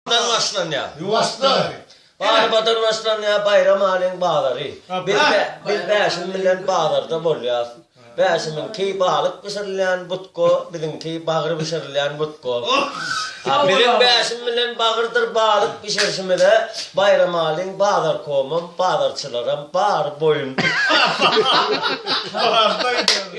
Ýuwaşdan başlanýar. Ýuwaşdan. Galabadan başlanýar Baýram Alyň bazary. Biz biz Bäşim bilen bazarda bolýas. Bäşimiňki balyk bişirilýän butka, biziňki bagyr bişirilýän butka. Biziň Bäşim bilen bagyrdyr balyk bişirişimize Baýram Alyň bazarkomam, bazarçylaram bary boýun. Bardaý diýýär.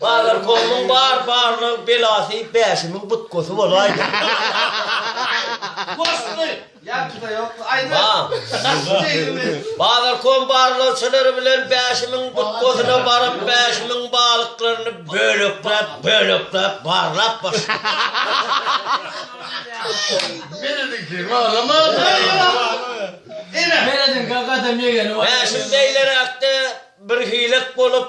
Badyr Komuň bar barlyk belasy Bäşimiň butgasy bolaýdy. Goşgy! Ýakyda ýokmy? Aýdyň! Badyr Kom barlagçylary bilen Bäşimiň butgasyna baryp, Bäşimiň balyklaryny bölekläp, bölekläp barlap başlaýar. Bäşim beýleräkde birhilek bolup,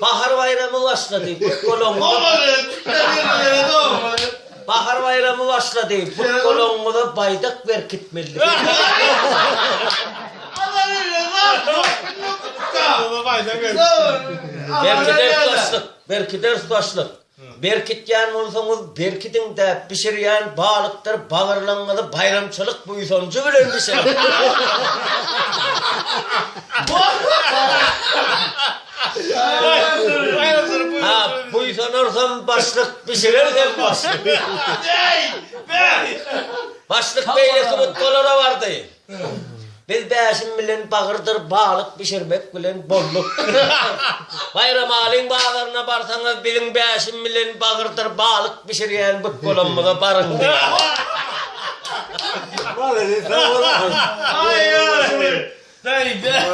Bahar baýramy başlady. Bahar baýramy başlady. Putgolaňyňyza baýdak berkitmeli. Berkider başlyk. Berkider başlyk. Berkitýän bolsaňyz berkidiň-dä, bişirýän balykdyr bagyrlygyňyzy baýramçylyk buýsanjy bilen bişiriň! Ha, buýsanarsam başlyk, bişirersem başlyk! Başlyk beýle subutgalara bardy. Biz Bäşim bilen bagyrdyr balyk bişirmek bilen bolduk. Baýramalyň bazaryna barsaňyz, biziň Bäşim bilen bagyrdyr balyk bişirýän bükgolamyza baryň diýýär. Malades, sag bol. Aý, aý. Beýdä.